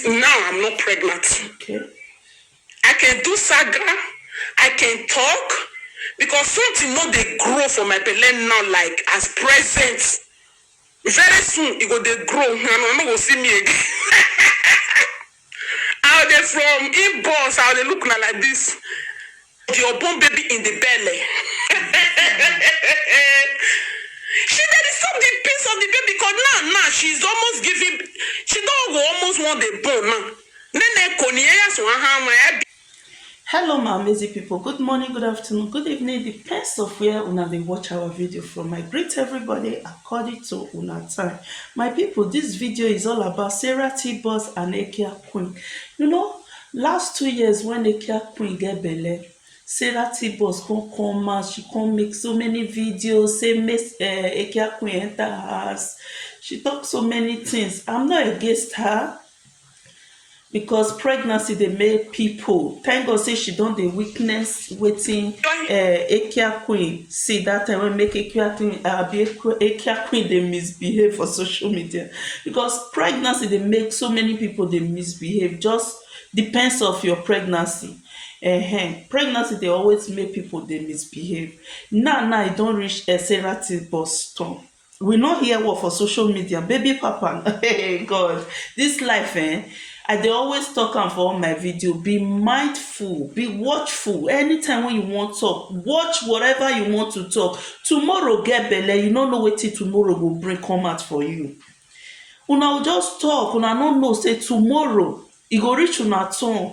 Now I'm not pregnant. Okay. I can do saga, I can talk because something no dey grow for my belle now like as present. Very soon e go dey grow and una no go see me again. I go dey from inbox, I go dey look una like this. di unborn baby in di belle she dey disturb di peace of di baby cos now now she is almost giving she don go almost wan dey born now nene koni eya sun ahanwa ebi. Hello my amazing people, good morning, good afternoon, good evening depends of where una dey watch our video from. I greet everybody according to una time. My people this video is all about Sarah T-Boss and Ekia Queen. You know Last two years wen Nakia queen get belle, Sarah T-boss come come out, she come make so many videos say make um Ekia queen enter her house, she talk so many things, I'm not against her because pregnancy dey make people, thank God say she don dey witness wetin Ekiaqueen see that time wey make Ekiaqueen abi Ekiaqueen dey misbehave for social media because pregnancy dey make so many people dey misbehave just depends of your pregnancy ehen pregnancy dey always make people dey misbehave now now e don reach Sarah bus stop We no hear word for social media baby papa hey God this life eh I dey always talk am for all my video be mindful be watchful anytime when you wan talk watch whatever you want to talk tomorrow get belle you no know wetin tomorrow go bring come out for you una go just talk una no know say tomorrow e go reach una turn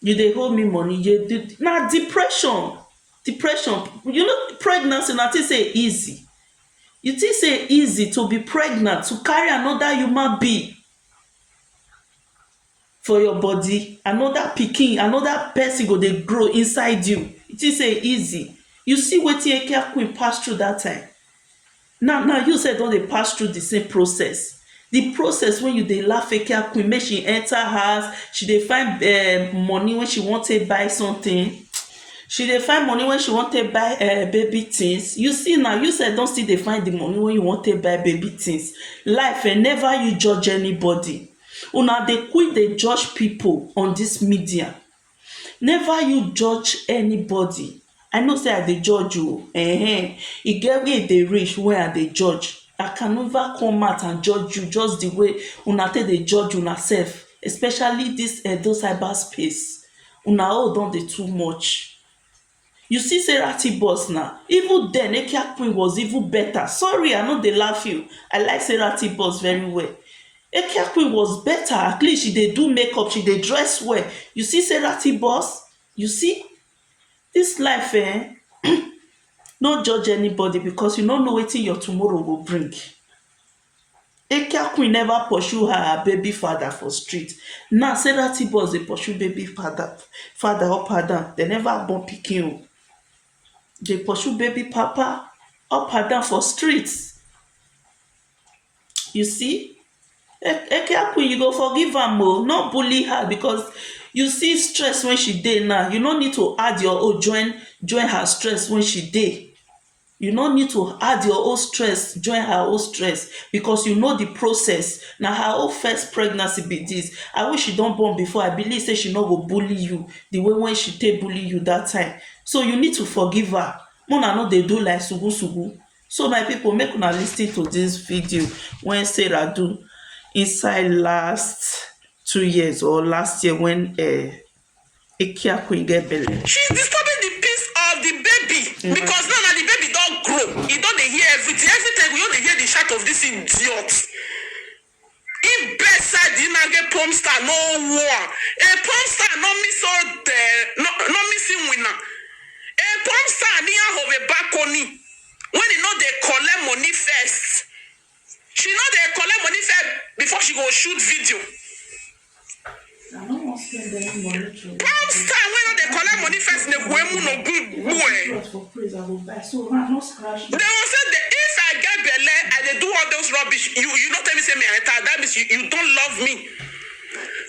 You dey owe me money you dey do na depression depression you know pregnancy una think sey e easy you think sey e easy to be pregnant to carry another human being for your body another pikin another person go dey grow inside you you think sey e easy you see wetin eke akwin pass through that time Now now you sef don dey pass through the same process the process wey you dey laugh fake out queen make she enter house she dey find um money wey she wan take buy something she dey find money wey she wan take buy um baby things you see now you sef don still dey find the money wey you wan take buy baby things life um never you judge anybody una dey quick dey judge people on this media Never you judge anybody I know sey I dey judge oh ehen e get where e dey reach wey I dey judge I can never come out and judge you just the way una take dey judge una self especially this edo cyber space una own don dey too much You see say Rati boss na, even then Ekia queen was even better, sorry I no dey laugh you, I like say Rati boss very well, Ekia queen was better at least she dey do make up, she dey dress well, you see say Rati boss, you see this life ehn, no judge anybody because you no know wetin your tomorrow go bring. Ekia queen never pursue her her baby father for street now Sarah T boss dey pursue baby father father up and down dem never born pikin oo dey pursue baby papa up and down for street you see Ekia queen you go forgive am oo no bully her because you see stress wey she dey now you no need to add your own join join her stress wey she dey You no need to add your own stress join her own stress because you know the process. Na her own first pregnancy be this. I wish she don born before. I believe say she no go bully you the way when she take bully you that time. So you need to forgive her. Mona no dey do like sugu sugu. So my people make una listen to this video when Sarah do inside last two years or last year when uh, Ekiaku e get belle. She is disturbing the peace of the baby because now na the baby don grow, e don dey hear everything, every time we don dey hear the shout of this idiot. If best side the man get porn star no war, a porn star no miss so the no no miss him winner. A porn star near of a balcony when he no dey collect money first. She no dey collect money first before she go shoot video. I no wan spend any money to Palm star wey no dey collect money first na kwemu no gun gbue. Cloth for praise I go buy so man no scratch me. They will say the, if I get belle, I dey do all those rubbish. You you no tell me say me I enter, that means you, you don't love me.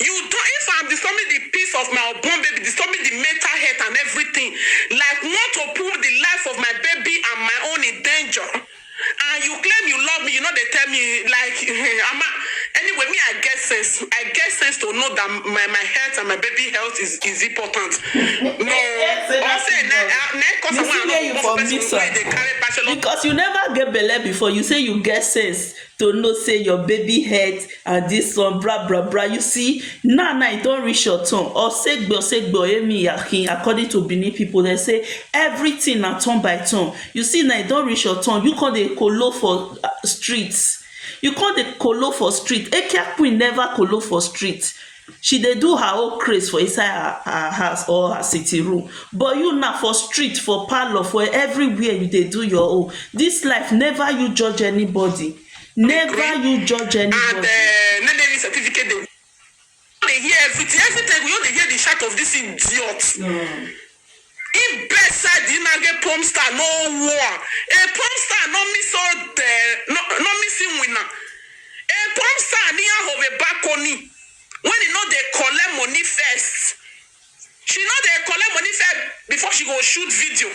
You don't, if I'm disturbing the peace of my unborn baby, disturbing the mental health and everything, like want to put the life of my baby and my own in danger. and you claim you love me you no dey tell me like ama anyway me i get sense i get sense to know that my my health and my baby health is is important no Say or that say is na wrong. na na cause You i see wan where you know for person mix wey am dey carry bachelor Because you never get belle before, you say you get sense. to know say your baby head and this one bra bra bra you see now now e don reach your turn osegbe osegbe oyemi yakin according to Benin people dem say everything na turn by turn you see now e don reach your turn you come dey kolo for street you come dey kolo for street Ekia queen never kolo for street She dey do her own craze for inside her her house or her sitting room but you now for street, for parlour, for everywhere you dey do your own. Dis life never you judge anybody, never you judge and um anybody. no dey use certificate dey dey hear everything, everytime you go just dey hear the shout of dis idiot. Ibe said di man ge porn star no won e porn star no mi so de no no mi si wina e porn star ni a hove bakoni when e no dey collect money first she no dey collect money first before she go shoot video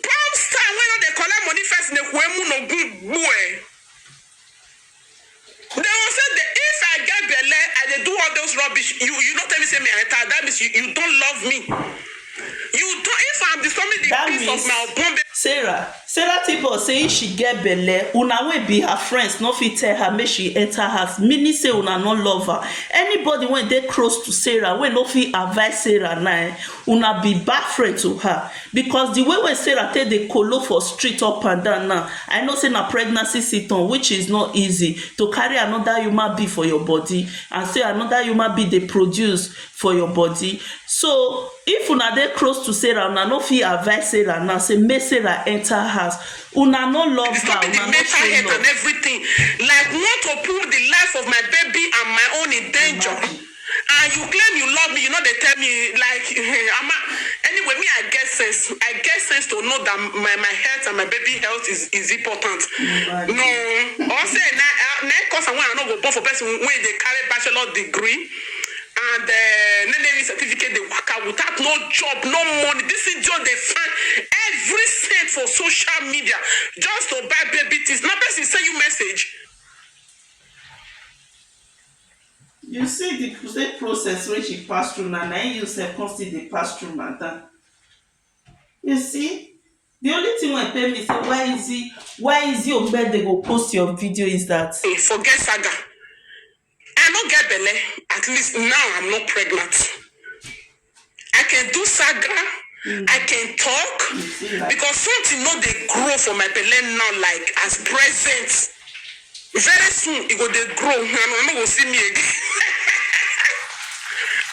porn star wey no dey collect money first ne kwe mu no gun gbue. Dey go say dey if I get belle I dey do all those rubbish you you no tell me say me I enter that means you you don't love me you don't if I'm disturbing the That peace of means my unborn baby Sarah Sarah Tibor say if she get belle una wey be her friends no fit tell her make she enter house meaning say una no love her anybody wey dey close to Sarah wey no fit advice Sarah na Una be bad friend to her because the way wey Sarah take dey kolo for street up and down now, I know say na pregnancy sitom which is not easy to carry another human being for your body and say another human being dey produce for your body so if una dey close to Sarah una no fit advice Sarah now say make Sarah enter house una no love her una no show love. Like want to put the life of my baby and my own in danger. And you claim you love me, you no dey tell me like Ama. Anyway, me I get sense. I get sense to know that my my health and my baby health is is important. No, or say na na cause I want I no go born for person wey dey carry bachelor degree and uh, NNE certificate dey waka without no job, no money. This idiot dey find every cent for social media just to buy baby things. Na person send you message. You see di same process wey she pass through na, na im you sef come still dey pass through madam. You see, di only thing wey pain me sey why Izzy, why Izzy Ogbende go post your video is dat. Hey forget saga, I no get belle, at least now I'm not pregnant. I can do saga, I can talk because something no dey grow for my belle now like as present. Very soon e go dey grow and una no go see me again.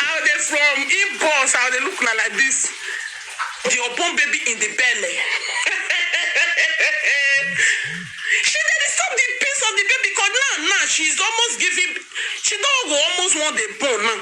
I go dey from inbox, I go dey look una like this, the unborn baby in the belle. She dey disturb the peace of the baby because now now she is almost giving, she don go almost wan dey born now.